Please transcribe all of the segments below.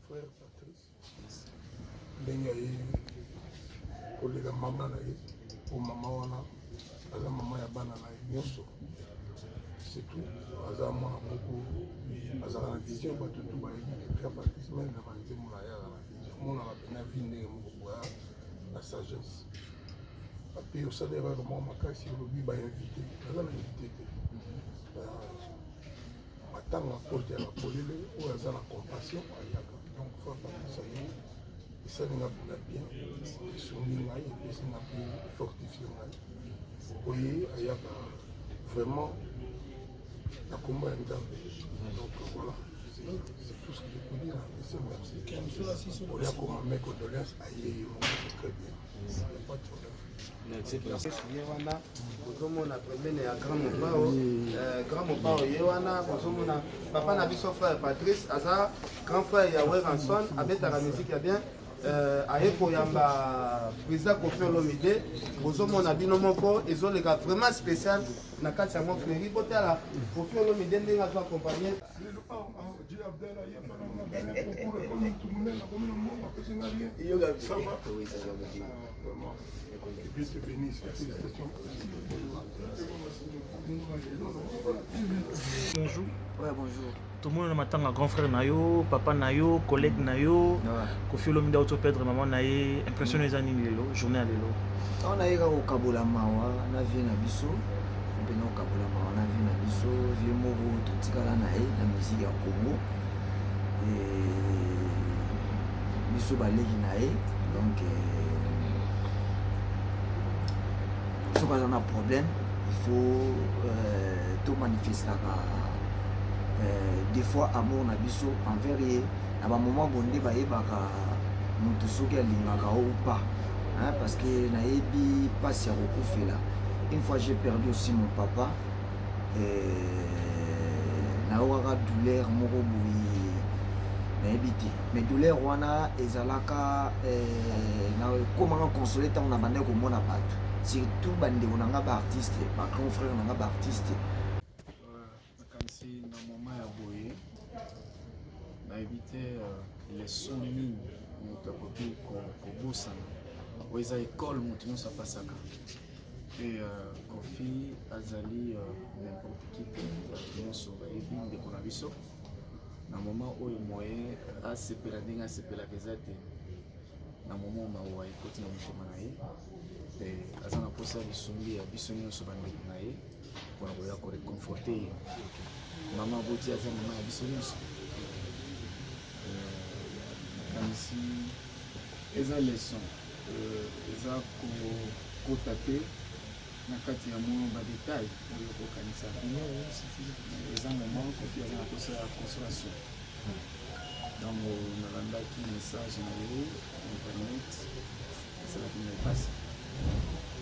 Frère Patrice, ndenge aye kolela mama na ye po mama wana aza mama ya bana na ye nyonso surtout aza mwana moko azalaka na vision bato tu bayebi frère Patrice meme na banzembo na ye azala na vision monaka mpena vie ndenge moko boya na sagesse ape osali erreur moko makasi olobi bainvite naza na invite te Matanga porte ya polele oyo aza na compassion ayaka donc faut apakisa ye esali nga mpona bien esungi ngai epesi nga mpe fortifie ngai oye ayaka vraiment na kombo ya nzambe donc voilà c'est tout ce que je peux dire merci merci oya koma mes condoléances aye ye moko très bien ye wana ozomona pembene ya grand mopao euh, grand mopao ye wana ozomona papa na biso frère patrice aza grand frère ya weranson abetaka miziki ya bien euh, aye koyamba président kofi olomide bozomona bino moko ezoleka vraiment spécial na kati yango fleri botala kofi olomide ndenge azo accompagne oh, oh, Bonjour. Ouais, bonjour. tomona na matanga grand frère na yo papa na yo collègue na yo kofi olomi nda auto perdre mama na ye impression eza nini lelo journée ya lelo awa nayeka kokabola mawa na vie na biso mpena okabolama wana vie na biso vie moko totikala na ye na musique ya congo biso baleki na ye donc soki aza na problème il faut euh, tomanifestaka euh, des fois amour na biso envers ye na bamoment bonde bayebaka moto soki alingaka ou pas hein, parce que nayebi pasi ya kokufela une fois j'ai perdu aussi mon papa nayokaka douleur moko boye nayebi te mais douleur wana ezalaka eh, nakomaka console ntango nabandaki komona bato surtout bandeko na ngai baartiste bagrand frère na ngai baartiste nakanisi na moma ya boye nayebi te euh, leson nini moto akoki kobosana oyo eza ekole moto nyonso apasaka mpe euh, kofi azali euh, nimporte qui te bato nyonso bayebi ndeko na biso na moma oyo moye asepela ndenge asepelaka eza te na moma mawa ekoti na motema na ye mpe aza na mposa ya lisungi ya biso nyonso bandeko na ye mpona koya ko reconforte ye mama aboti aza mama ya biso nyonso nakanisi euh, eza leson euh, eza kokota te na kati ya mwa badetail oyo kokanisa eza moment kofi aza na posa ya consolation ntango nalandaki message na ye internet esalaki ngai mpasi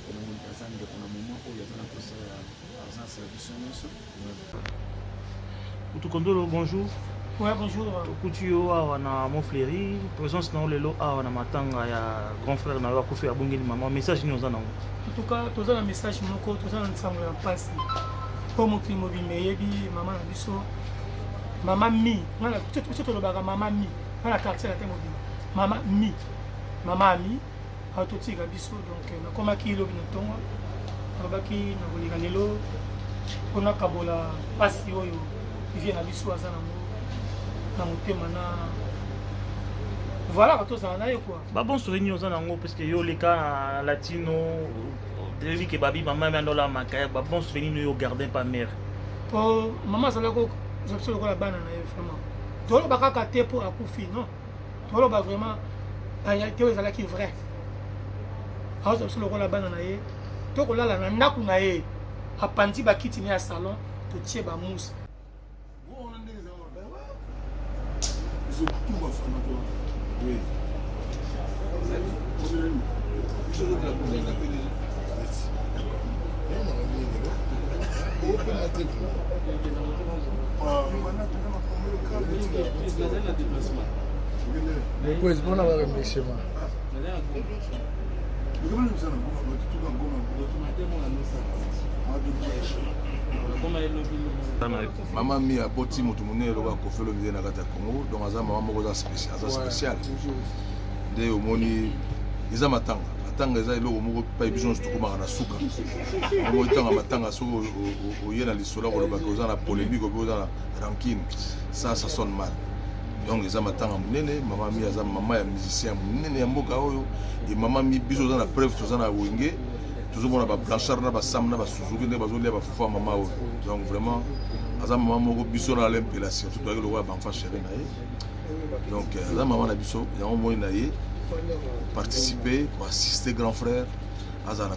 mpona moni aza ndeko na moma oyo aza na posa ya argence ya biso nyonso utukondolo bonjour Ouais, bonjour. Tokuti yo awa na Montfleury, présence na yo lelo awa na matanga ya grand frère na yo akufi abungeli mama, message nini oza nango? En tout cas, toza na message moko, toza na nsango ya mpasi mpo mokili mobimba eyebi mama na biso mama mi, ngai na tolobaka mama mi, ngai na quartier na te mobimba mama mi mama ami aototika biso donc euh, nakomaki lobi na ntongo alobaki nakoleka lelo mpo nakabola mpasi oyo vie na biso aza nango na motema na voilà tozala na ye kua babonso nini oza nango parceke yo oleka na latino toyebi ke babi mama yami andola makaya babonso nini oyo garde pa mare mpo mama azalaki kozwa biso lokola bana na ye vraiment toloba kaka te mpo akufi non toloba vraiment na réalité oyo ezalaki vrai aoza biso lokola bana na ye to kolala na ndako na ye apanzi bakiti na ya salon totie bamousse Oh, Depois, bom na hora me chamar. mama mi aboti moto monene lokola kofi olomide na kati ya congo donc aza mama moko aza spécial nde omoni eza matanga matanga eza eloko moko pai biso nyonso tokomaka na suka yango etanga matanga soki oye na lisolo kolobaka oza na polémique ope oza na rancune ça ça sonne mal donc eza matanga monene mama mi aza mama ya musicien monene ya mboka oyo e mama mi biso oza na preuve toza na wenge tozomona ba blanchard na basam na basuzuki nde bazolia bafufu ya mama oyo donc vraiment aza mama moko biso na alain mpela surtout toyaki lokola banfa chéri na ye donc euh, aza mama na biso yango moi na ye participer koassiste grand frère azala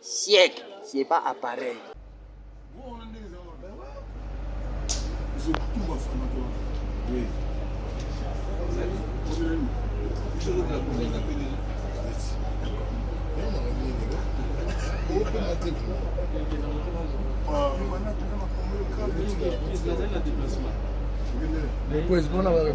Siècle, c'est pas appareil. Depois, bora lá, meu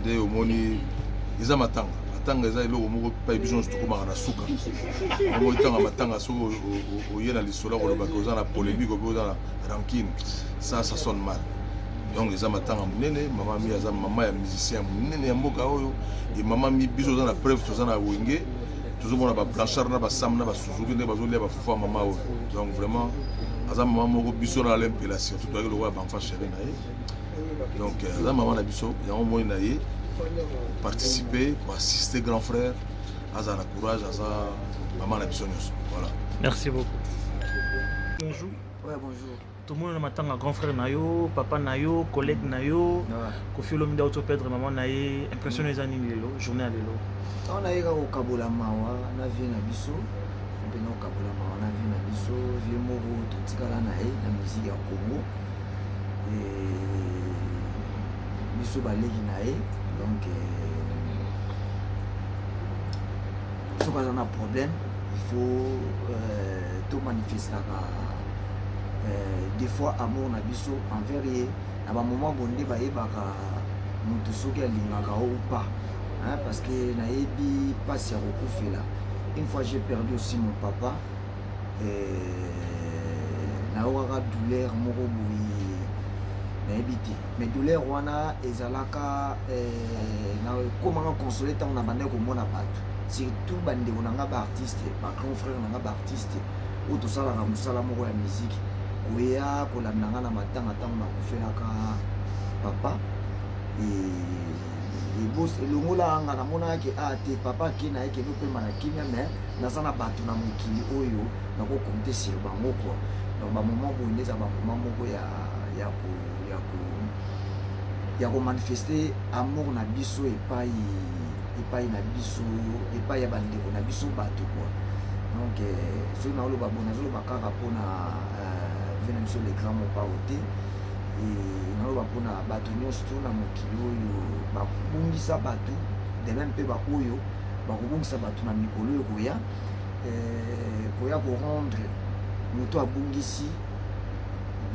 nde omoni eza matanga matanga eza eloko moko epai biso nyonso tokomaka na suka yango etanga matanga soki oye na lisolo kolobaka oza na polémique ope oza na rankine ça ça sonne mal donc eza matanga monene mama mi aza mama ya musicien monene ya mboka oyo e mama mi biso oza na preuve toza na wenge tozomona bablanchard na basam na basuzuki nde bazolia bafufa mama oyo donc vraiment aza mama moko biso na alempela surtout toyaki lokola banfa chéri na ye donc euh, aza mama na biso yango moi na ye participer koassiste grand frère aza na courage aza mama na biso nyonso voilà merci beaucoup bonjour ouais, bonjour tomona na matanga grand frère na yo papa na yo collègue na yo kofi olomi nda oto perdre mama na ye impression eza nini lelo journée ya lelo ntango nayeka kokabola mawa na vie na biso mpe na kokabola mawa na vie na biso vie moko totikala na ye na musique ya congo biso baleki na ye donc soki aza na problème il faut euh, tomanifestaka euh, des fois amour na biso envers ye na bamoment bonde bayebaka moto soki alingaka o ou pas hein, parce que nayebi mpasi ya kokufela une fois j'ai perdu aussi mon papa nayokaka douleur moko boye nayebi te mais douleur wana ezalaka eh, nakomaka console ntango na bandaki komona bato surtout bandeko na ngai baartiste bacron frère na ngai baartiste oyo tosalaka mosala moko ya miziki koya kolanda ngai na matanga ntango nakufelaka papa elongolaka ngai namonaka ke a ah, te papa akei na ye kende opema na kimia mais naza na bato na mokili oyo nako compter sur bango quoi donc ba moment boye nde eza ba moment moko ya ya ko ya ko ya ko manifester amour na biso epai epai na biso epai ya bandeko na biso bato quoi donc euh, soki naoloba boye nazoloba kaka mpona euh, vie na biso le grand mopao te naloba mpona bato nyonso to na mokili oyo babungisa bato de meme mpe baoyo bakobungisa bato na mikolo oyo koya eh, koya korendre moto abungisi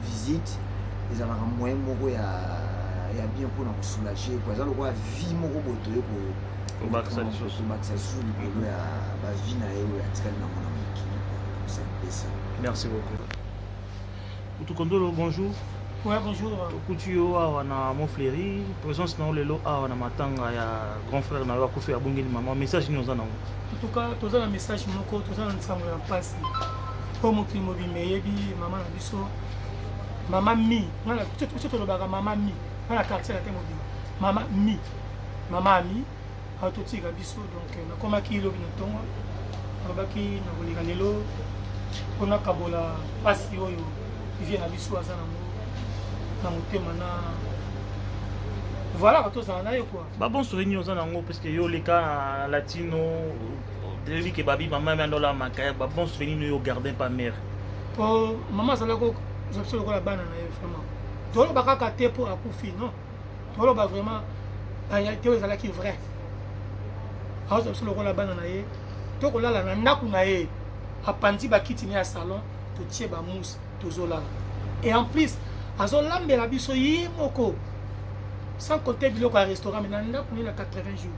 visite ezalaka moyen moko ya ya bien mpona kosoulage po eza lokola vie moko boye toye kobakisa lisusu likolo ya bavie na ye oyo atikali nango na mokili merci beaucoup Kutu Kondolo, bonjour. Ouais, bonjour. Tokuti yo awa na Montfleury, présence na yo lelo awa na matanga ya grand frère na yo akufi abungeli mama, message nini oza nango? En tout cas, toza na message moko, toza na nsango ya mpasi mpo mokili mobimba eyebi mama na biso mama mi biso tolobaka mama mi nga na quartier na te mobimba mama mi mama ami atotika biso donc euh, nakomaki lobi na ntongo alobaki na koleka lelo mpo nakabola mpasi oyo vie na biso aza nango na motema na voilà tozala na ye kua babonso nini oza nango parceke yo oleka na latino toyebi ke babi mama ya miandola makaya babonso nini oyo garde pa mare mpo mama azalaki kozwa biso lokola bana na ye vraiment toloba kaka te mpo akufi non toloba vraiment barealité oyo ezalaki vrai aoza biso lokola bana na ye to kolala na ndako na ye apanzi bakiti ne ya salon totie bamousse tozolala et en plus azolambela biso ye moko sans compter biloko ya restaurant me na ndako ne na 80 jours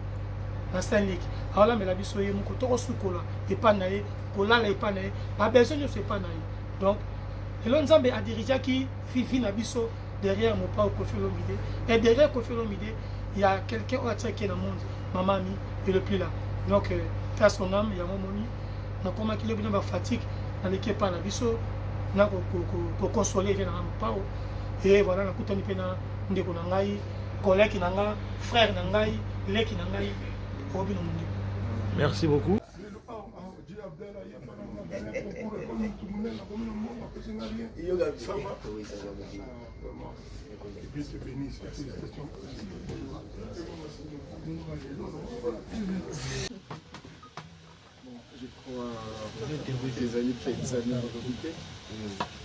na saint liki aolambela biso ye moko tokosukola epai na ye kolala epai na ye babesoin nyonso epai na ye donc lelo nzambe adirigeaki fifi na biso derrière mopao kofi olomide et derrière kofi olomide il y a quelqu'un oyo atiaki na monde mama ami et le plus là donc euh, ta son âme yango omoni nakomaki lobi na bafatigue naleki epai na biso na kokonsole vie nanga mopao e voilà nakutani mpe na ndeko na ngai koleki na ngai frère na ngai leki na ngai obino mondeko merci beaucoup je crois ezali mpenza na lobi te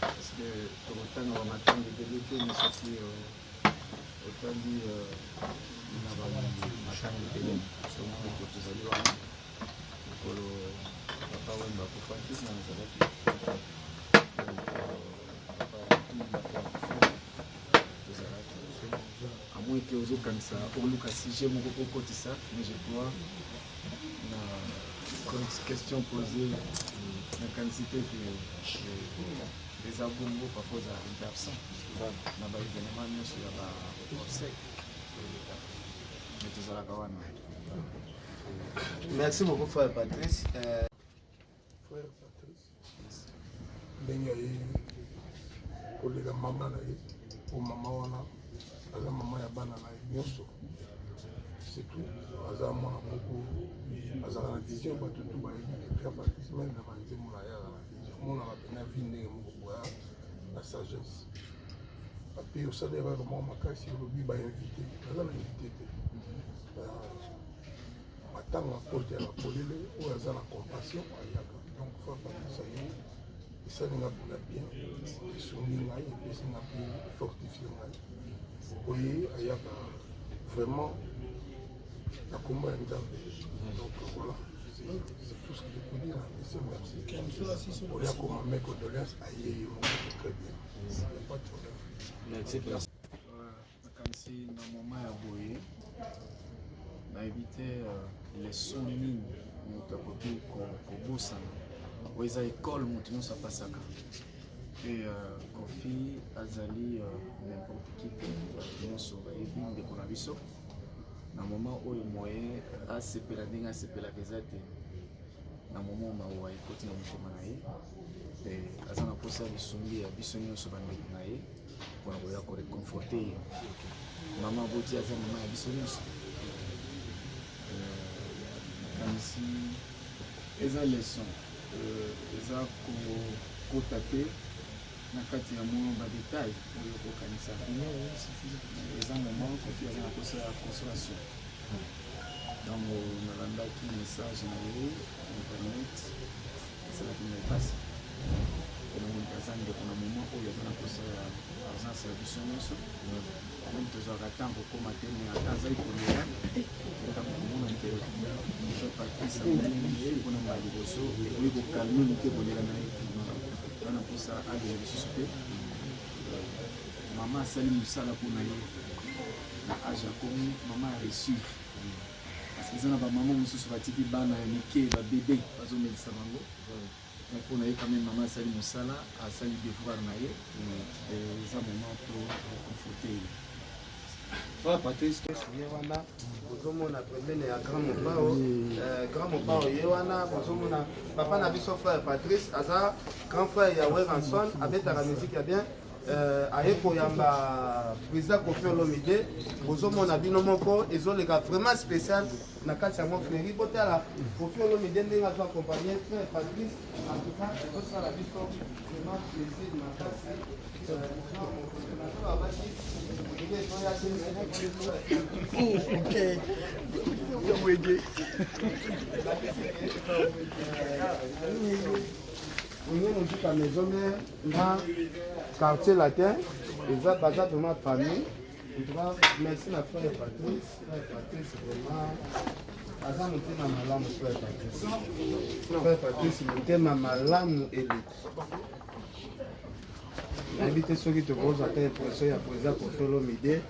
parceke tokotanga bamatango ebele te na soki otali na bamatango ebele soki tozali wana te ozokanisa oluka sujet moko kokotisa mais je crois na question posée na quantité que eza bongo papa oza arrive absent na baévénement nyonso ya baobsèque mais tozalaka wana Merci beaucoup frère Patrice. Euh... Frère Patrice. Ndenge ayei koleka mama na ye po mama wana aza mama ya bana na ye nyonso surtout aza mwana moko azala na vision bato tu bayebi frère Patrice meme na banzembo na ye aza na vision monaka mpe na vie ndenge moko boya na sagesse ape osalelaka mwa makasi olobi bainvite aza na invite te matanga kote ya polele oyo aza na compassion ayaka donc fa bakisa ye esali nga mpona bien esungi ngai epesi nga mpe fortifie ngai oye ayaka vraiment na kombo ya nzambe donc voilà c'est tout ce que je peux dire monsieur merci oya koma mes condoléances aye ye moko très bien il n'y a pas de problème nakanisi na moma ya boye nayebi te euh, leson nini moto akoki kobosana oyo eza ekole moto nyonso apasaka mpe euh, kofi azali euh, nimporte qui te bato nyonso bayebi ndeko na biso na moma oyo moye asepela ndenge asepelaka eza te na moma mawa ekoti na motema na ye mpe aza na mposa ya lisungi ya biso nyonso bandeko na ye mpona koya ko reconforte ye mama boti aza mama ya biso nyonso nakanisi euh, eza leson euh, eza kokota te na kati ya mwa badetail oyo kokanisa eza moment kofi aza na posa ya consolation ntango nalandaki message na ye internet ezalaki na mpasi omoni aza ndeko na moma oyo aza na posa ya présence ya biso nyonso meme tozwaka ntango kokoma te me ata azali kolela ntango komona mpe patrice mpona mbala liboso ekoki kokalme moke kolela na ye wana mposa alela lisusu te mama asali mosala mpo na ye na age akomi mama ya reussi parce que eza na bamama mosusu batiki bana ya mike babebe bazomelisa bango mais mpo na ye quand même mama asali mosala asali devoir na ye eza mama to conforte ye Frère Patrice, Yewana, Bozomona, problème ya Grand Mopao, euh, Grand Mopao, Yewana, Bozomona, Papa Nabiso, Frère Patrice, Aza, Grand Frère ya Weranson, Abetara, musique ya bien, euh, aye koyamba président kofi olomide bozomona bino moko ezoleka vraiment spécial na kati ya mofleri botala kofi olomide ndenge azo accompagne frère patrice en tout cas ezosala biso vraiment plaisir makasi Okay. Wege. Wenge Mujika Maison Mère na quartier latin eza baza vraiment famille en tout cas merci na frère Patrice frère Patrice vraiment aza motema malamu frère Patrice frère Patrice motema malamu eleki nayebi te soki tokozwa ata impression ya koza kofelo mide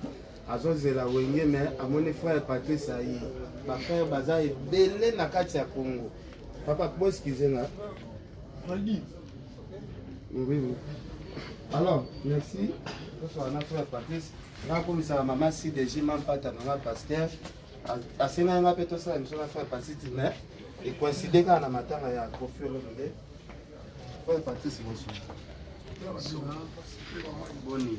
azozela wenge me amoni frère patrice aye bafrère baza ebele na kati ya congo papa boskize nga oui, oui. alors merci tosoka na frère patrice nakomisaka mama cdg mampata nanga pasteur asengaki nga mpe tosala miso na frère patrice mais ekoincide kaka na matanga ya kofi olomide frère patrice bosu boni